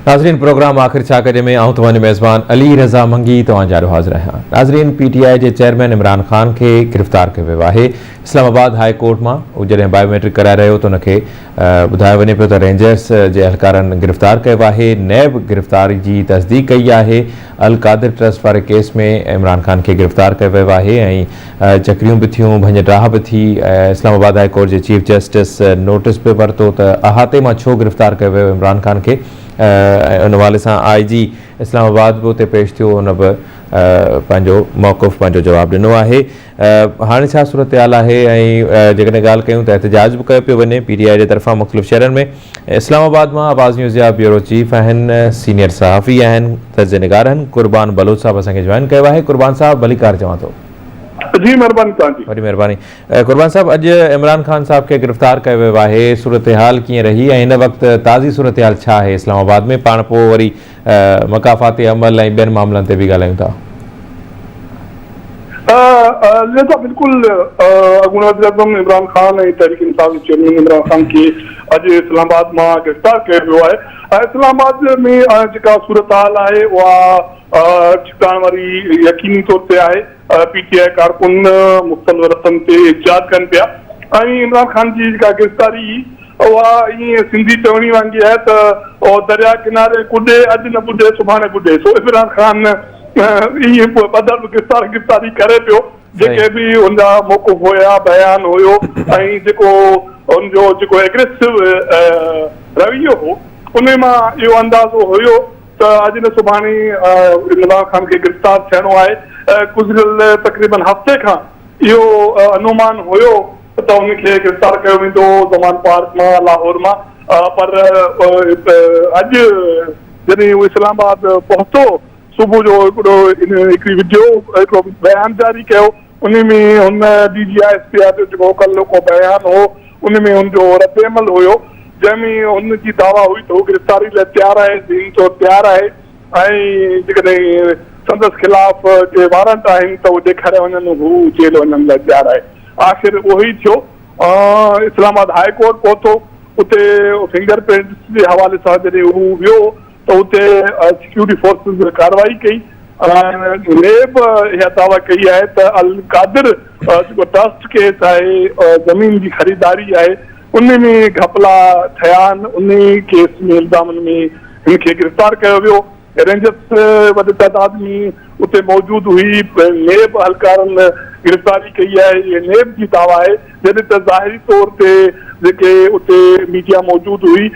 ناظرين پروگرام آخر ڇا ڪجي ۾ آئون توهان جو ميزبان علي رضا منگي توهان جارو حاضر آهيان ناظرين پي ٽي آء جي چيئرمين عمران خان کي گرفتار ڪيو ويو آهي اسلام آباد هاء ڪورٽ مان هو جڏهن بايوميٽرڪ ڪرائي رهيو هو ته ان کي ٻڌايو وڃي پيو ته رينجرز جي اهلڪارن گرفتار ڪيو آهي، نيب گرفتاري جي تصديق ڪئي آهي، القادر ٽرسٽ واري ڪيس ۾ عمران خان کي گرفتار ڪيو ويو آهي ۽ چڪريون به ٿيون، ڀڃ ڊاهه به ٿي، اسلام آباد هاء ڪورٽ جي چيف جسٽس نوٽيس به ورتو ته احاطي مان ڇو گرفتار ڪيو ويو عمران خان کي ۽ ان حوالي سان آء جي اسلام آباد به اتي پيش ٿيو، هن به پنهنجو موقف پنهنجو جواب ڏنو آهي. هاڻي ڇا صورتحال آهي ۽ جيڪڏهن ڳالهه ڪيون ته احتجاج به ڪيو پيو وڃي پي ٽي آء جي طرفان مختلف شهرن ۾ اسلام آباد مان آواز نيوز جا بيورو چيف آهن سينيئر صحافي آهن تجزئي نگار آهن قربان بلوچ صاحب اسان کي جوائن ڪيو آهي قربان صاحب ڀليڪار چوان ٿو جي مهرباني توهان جي وڏي مهرباني قربان صاحب اڄ عمران خان صاحب کي گرفتار ڪيو ويو آهي صورتحال ڪيئن رهي ۽ هن وقت تازي صورتحال ڇا آهي اسلام آباد ۾ پاڻ پوء وري مڪافاتي عمل ۽ ٻين معاملن تي به ڳالهايون ٿا. ضياء صاحب بلڪل اڳوڻي وزيراعظم عمران خان ۽ تحريڪ انصاف جي چيئرمين عمران خان کي اڄ اسلام آباد مان گرفتار ڪيو ويو آهي ۽ اسلام آباد ۾ جيڪا صورتحال آهي اها ڇڪتاڻ واري يقيني طور تي آهي. پي ٽي آء ڪارڪن مختلف رستن تي احتجاج ڪن پيا ۽ عمران خان جي جيڪا گرفتاري اها ائين سنڌي چوڻي وانگي آهي ته او درياء ڪناري ڪڏي اڄ نه ٻڏي سڀاڻي ٻڏي سو عمران خان ائين ٻڌل گرفتار گرفتاري ڪري پيو جيڪي به هن جا موقف هيا بيان هيو ۽ جيڪو هن جو جيڪو اگريسو رويو هو ان مان اهو اندازو هيو ته اڄ نه سڀاڻي عمران خان کي گرفتار ٿيڻو آهي، گذريل تقريبن هفتي کان اهو انومان هيو ته ان کي گرفتار ڪيو ويندو زمان پارڪ مان لاهور مان پر اڄ جڏهن هو اسلام آباد پهتو صبح جو هڪڙو هڪڙي وڊيو هڪڙو بيان جاري ڪيو. انهي ۾ هن D G I S P R جو جيڪو مڪلو ڪو بيان هو انهي ۾ هن جو ردعمل هيو جنهن ۾ هن جي دعويٰ هئي ته هو گرفتاري لاء تيار آهي ذهني طور تيار آهي ۽ جيڪڏهن سندس خلاف ڪي وارنٽ آهن ته اهي ڏيکاريا وڃن هو جيل وڃڻ لاء تيار آهي آخر اهو ئي ٿيو اسلام آباد هاء ڪورٽ پهتو اتي فنگر پرنٽس جي حوالي سان جڏهن هو ويو ته اتي سيڪيورٽي فورسز ڪارروائي ڪئي ۽ نيب اها دعويٰ ڪئي آهي ته القادر جيڪو ٽرسٽ ڪيس آهي زمين جي خريداري آهي ان ۾ گهپلا ٿيا آهن انهي ڪيس ۾ الزامن ۾ هن کي گرفتار ڪيو ويو رينجرز وڏي تعداد ۾ اتي موجود هئي نيب اهلڪارن گرفتاري ڪئي آهي نيب جي دعويٰ آهي جڏهن ته ظاهري طور تي جيڪي اتي ميڊيا موجود هئي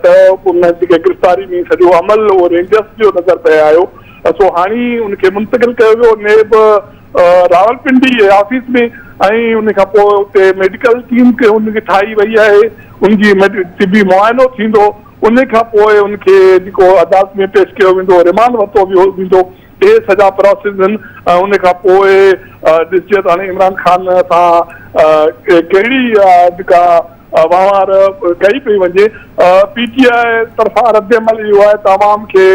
ته ان جيڪي گرفتاري ۾ سڄو عمل اهو رينجرز جو نظر پئي آيو سو هاڻي ان کي منتقل ڪيو ويو نيب راولپنڊي آفيس ۾ ۽ ان کان پوء اتي ميڊيڪل ٽيم کي ان کي ٺاهي وئي آهي ان جي طبي معائنو ٿيندو ان کان پوء ان کي جيڪو عدالت ۾ پيش ڪيو ويندو ريمانڊ ورتو ويندو اهي سڄا پراسيس هن ۽ ان کان پوء ڏسجي ته هاڻي عمران خان سان ڪهڙي جيڪا وهنوار ڪئي پئي وڃي. پي ٽي آء طرفان ردعمل اهو آهي ته عوام کي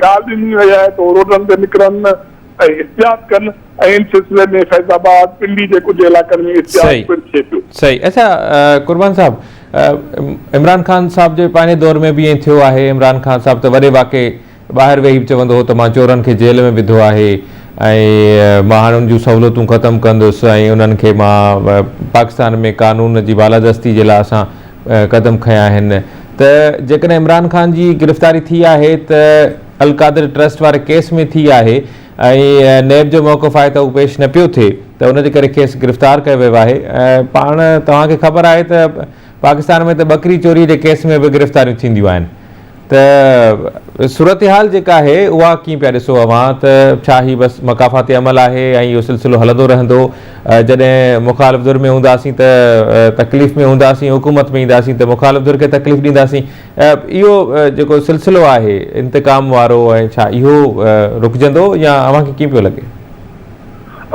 ڪال ڏني وئي آهي ته هو روڊن تي نڪرن ۽ احتجاج ڪن ۽ ان سلسلي ۾ فيض آباد پنڊي جي ڪجهه علائقن ۾ احتجاج پڻ ٿئي پيو. صحيح اچا قربان صاحب عمران خان صاحب جي پنهنجي دور ۾ به ائين ٿيو آهي عمران خان صاحب ته وڏي واڪي ٻاهر ويهي به چوندو هو ته مان چورن کي جيل ۾ وڌو آهي ۽ مان هاڻي ان جون سهولتون ختم ڪندس ۽ انهن کي مان پاڪستان ۾ قانون جي بالادستي جي لاء اسان قدم کنيا آهن ته جيڪڏهن عمران خان جي گرفتاري ٿي آهي ته القادر ٽرسٽ واري ڪيس ۾ ٿي آهي ۽ نيب جو موقف آهي ته اهو پيش نه پيو ٿئي ته ان جي ڪري کيس گرفتار ڪيو ويو آهي پاڻ توهان کي خبر آهي ته پاڪستان ۾ ته ٻڪري چوري جي ڪيس ۾ به گرفتاريون ٿينديون آهن ته صورتحال جيڪا آهي اها ڪيئن پيا ڏسو اوهان ته ڇا هي بس مڪافاتي عمل آهي ۽ اهو سلسلو هلندو رهندو جڏهن مخالف ڌر ۾ هونداسين ته تڪليف ۾ هونداسين حڪومت ۾ اينداسين ته مخالف ڌر کي تڪليف ڏينداسين اهو جيڪو سلسلو آهي انتقام وارو ۽ ڇا اهو رڪجندو يا اوهان کي ڪيئن پيو لڳي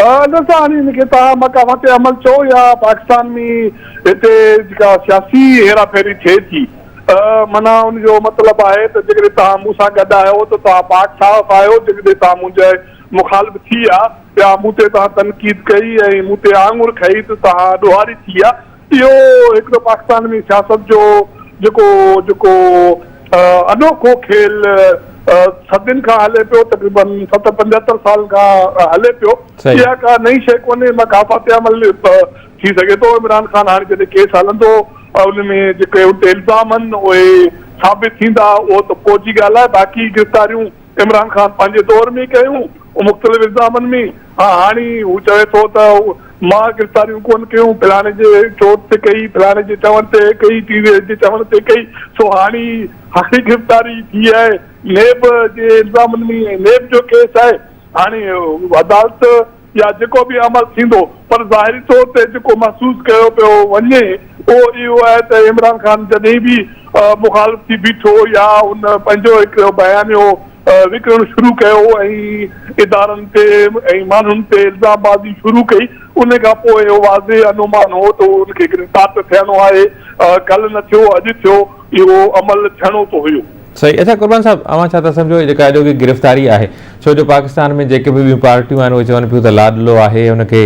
ادل صاحب هاڻي ان کي توهان مڪافاتي عمل چئو يا پاڪستان ۾ هتي جيڪا سياسي هيرا ڦيري ٿئي ٿي معنيٰ ان جو مطلب آهي ته جيڪڏهن توهان مون سان گڏ آهيو ته توهان پاڪ صاف آهيو، جيڪڏهن توهان منهنجا مخالف ٿيا يا مون تي توهان تنقيد ڪئي ۽ مون تي آڱر کنئي ته توهان ڏوهاري ٿيا. اهو هڪ ته پاڪستان ۾ سياست جو جيڪو جيڪو انوکو کيل صدين کان هلي پيو، تقريبن ستر پنجهتر سالن کان هلي پيو، اها ڪا نئين شيء ڪونهي، مان ڪا فاتح عمل ٿي سگهي ٿو عمران خان هاڻي جڏهن ڪيس هلندو ان ۾ جيڪي ان تي الزام آهن اهي ثابت ٿيندا اهو ته پوء جي ڳالهه آهي باقي گرفتاريون عمران خان پنهنجي دور ۾ ڪيون مختلف الزامن ۾ ها هاڻي هو چوي ٿو ته مان گرفتاريون ڪون ڪيون فلاڻي جي چوٽ تي ڪئي فلاڻي جي چوڻ تي ڪئي ٽي وي ايس جي چوڻ تي ڪئي سو هاڻي هاڻي گرفتاري ٿي آهي نيب جي الزامن ۾ نيب جو ڪيس آهي هاڻي عدالت يا جيڪو به عمل ٿيندو پر ظاهري طور تي جيڪو محسوس ڪيو پيو وڃي اهو اهو آهي ته عمران خان جڏهن به مخالف ٿي بيٺو يا هن پنهنجو هڪ بيانيو وڪڻڻ شروع ڪيو ۽ ادارن تي ۽ ماڻهن تي الزام بازي شروع ڪئي ان کان پوء اهو واضح انومان هو ته ان کي گرفتار ته ٿيڻو آهي ڪلهه نه ٿيو اڄ ٿيو اهو عمل ٿيڻو ته هيو. صحيح اچا قربان صاحب اوهان ڇا ٿا سمجهو هي جيڪا اڄوڪي گرفتاري آهي ڇو جو پاڪستان ۾ جيڪي به ٻيون پارٽيون آهن اهي چون پيون ته لاڏلو آهي ان کي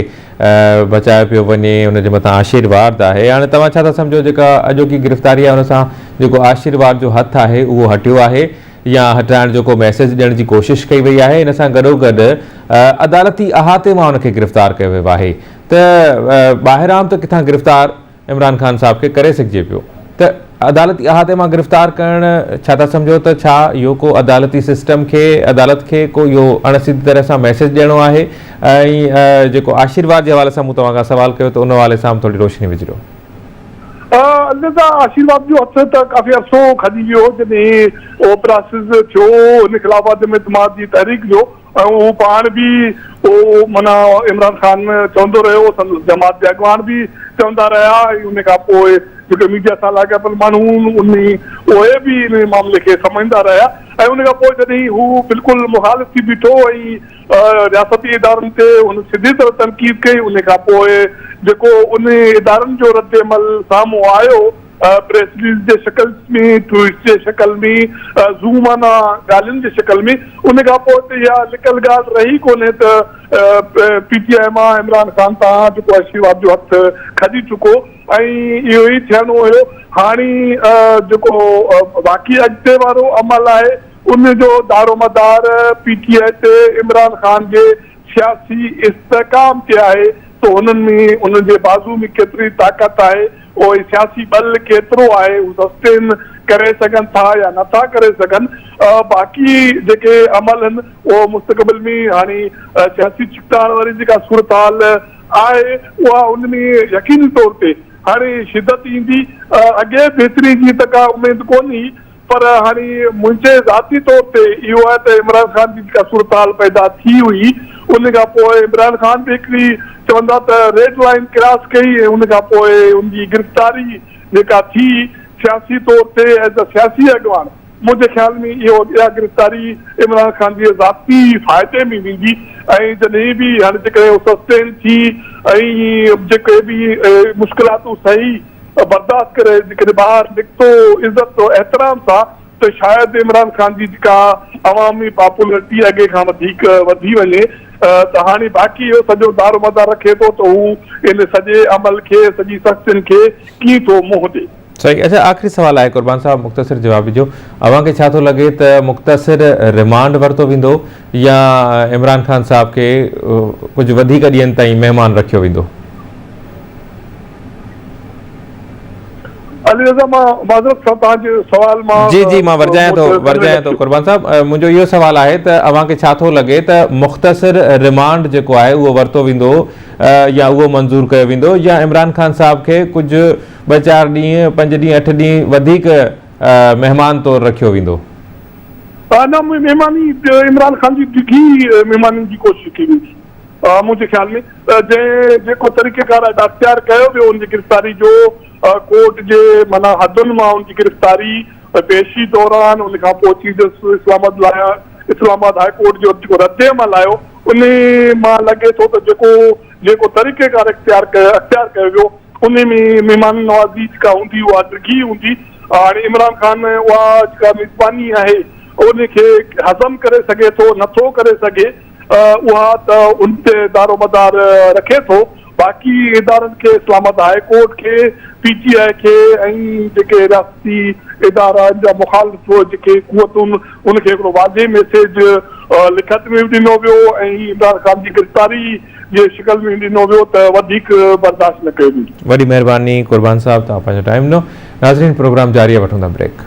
بچايو پيو وڃي ان جي مٿان آشيرواد آهي هاڻي توهان ڇا ٿا سمجهو جيڪا اڄوڪي گرفتاري آهي ان سان جيڪو آشيرواد جو هٿ آهي اهو هٽيو آهي يا هٽرائڻ جو ڪو ميسيج ڏيڻ جي ڪوشش ڪئي وئي آهي ان سان گڏوگڏ عدالتي احاطي مان ان کي گرفتار ڪيو ويو آهي ته ٻاهران ته ڪٿان گرفتار عمران خان صاحب کي ڪري سگهجي پيو ته عدالتي احاطي مان گرفتار ڪرڻ ڇا ٿا سمجهو ته ڇا اهو ڪو عدالتي سسٽم کي عدالت کي ڪو اهو اڻ سڌي طرح سان ميسيج ڏيڻو آهي ۽ جيڪو آشيرواد جي حوالي سان مون توهان کان سوال ڪيو ته ان حوالي سان به ٿوري روشني وجهو. الوداع آشيرواد جو هٿ ته ڪافي عرصو کڄي ويو جڏهن اهو پراسز ٿيو هن خلاف عدم اعتماد جي تحريڪ جو. ۽ هو پاڻ به معنيٰ عمران خان چوندو رهيو، سندس جماعت جا اڳواڻ به چوندا رهيا ۽ ان کان پوء جيڪي ميڊيا سان لاڳاپيل ماڻهو هن اهي به ان معاملي کي سمجهندا رهيا ۽ ان کان پوء جڏهن هو بلڪل مخالف ٿي بيٺو ۽ رياستي ادارن تي هن سڌي طرح تنقيد ڪئي ان کان پوء جيڪو ان ادارن جو ردعمل سامهون آيو پريس رليز جي شڪل ۾ ٽوئيٽس جي شڪل ۾ زوم معنيٰ ڳالهين جي شڪل ۾ ان کان پوء ته اها لڪل ڳالهه رهي ڪونهي ته پي ٽي آء مان عمران خان تان جيڪو آهي شيوهاد جو هٿ کڄي چڪو ۽ اهو ئي ٿيڻو هيو هاڻي جيڪو باقي اڳتي وارو عمل آهي ان جو دارومدار پي ٽي آء تي عمران خان جي سياسي استحڪام تي آهي ته هنن ۾ هنن جي بازو ۾ ڪيتري طاقت آهي پوء سياسي ٻل ڪيترو آهي، هو سسٽين ڪري سگهن ٿا يا نه ٿا ڪري سگهن، باقي جيڪي عمل هن اهو مستقبل ۾ هاڻي سياسي ڇڪتاڻ واري جيڪا صورتحال آهي اها ان ۾ يقيني طور تي هاڻي شدت ايندي، اڳي بهتري جي ته ڪا اميد ڪونه هئي، پر هاڻي منهنجي ذاتي طور تي اهو آهي ته عمران خان جي جيڪا صورتحال پيدا ٿي هئي ان کان پوء عمران خان به هڪڙي چون ٿا ته ريڊ لائين ڪراس ڪئي ۽ ان کان پوء ان جي گرفتاري جيڪا ٿي سياسي طور تي ايز اي سياسي اڳواڻ منهنجي خيال ۾ اهو اها گرفتاري عمران خان جي ذاتي فائدي ۾ ويندي ۽ جڏهن به هاڻي جيڪڏهن اهو سسٽين ٿي ۽ جيڪي به مشڪلاتون سهي برداشت ڪري جيڪڏهن ٻاهر نڪتو عزت و احترام سان ته شايد عمران خان جي جيڪا عوامي پاپولرٽي اڳي کان وڌيڪ وڌي وڃي ته هاڻي باقي اهو سڄو دارومدار رکي ٿو ته هو ان سڄي عمل کي سڄي سختين کي ڪيئن ٿو منهن ڏي. صحيح اچا آخري سوال آهي قربان صاحب مختصر جواب ڏجو اوهان کي ڇا ٿو لڳي ته مختصر رمانڊ ورتو ويندو يا عمران خان صاحب کي ڪجهه وڌيڪ ڏينهن تائين مهمان رکيو ويندو. علي رضا مان معذرت سان توهان جي سوال مان جي جي مان ورجايان ٿو ورجايان ٿو قربان صاحب منهنجو اهو سوال آهي ته اوهان کي ڇا ٿو لڳي ته مختصر ريمانڊ جيڪو آهي اهو ورتو ويندو يا اهو منظور ڪيو ويندو يا عمران خان صاحب کي ڪجهه ٻه چار ڏينهن پنج ڏينهن اٺ ڏينهن وڌيڪ مهمان طور رکيو ويندو نه مهماني عمران خان جي ڊگهي مهماني جي ڪوشش ڪئي ويندي منهنجي خيال ۾ ته جنهن جيڪو طريقيڪار ادا اختيار ڪيو ويو ان جي گرفتاري جو ڪورٽ جي معنيٰ حدن مان ان جي گرفتاري پيشي دوران ان کان پوء چيف جسٽس اسلام آباد لايا اسلام آباد هاء ڪورٽ جو جيڪو رد عمل آيو ان مان لڳي ٿو ته جيڪو جيڪو طريقيڪار اختيار ڪيو اختيار ڪيو ويو ان ۾ مهمان نوازي جيڪا هوندي اها ڊگهي هوندي هاڻي عمران خان اها جيڪا ميزباني آهي ان کي هضم ڪري سگهي ٿو نٿو ڪري سگهي اها ته ان تي دارومدار رکي ٿو باقي ادارن کي اسلام آباد هاء ڪورٽ کي پي ٽي آء کي ۽ جيڪي رياستي ادارا ان جا مخالف جيڪي قوتون ان کي هڪڙو واضح ميسيج لکت ۾ به ڏنو ويو ۽ عمران خان جي گرفتاري جي شڪل ۾ ڏنو ويو ته وڌيڪ برداشت نه ڪيو ويندو. وڏي مهرباني قربان صاحب توهان پنهنجو ٽائيم ڏنو. ناظرين پروگرام جاري آهي وٺون ٿا بريڪ.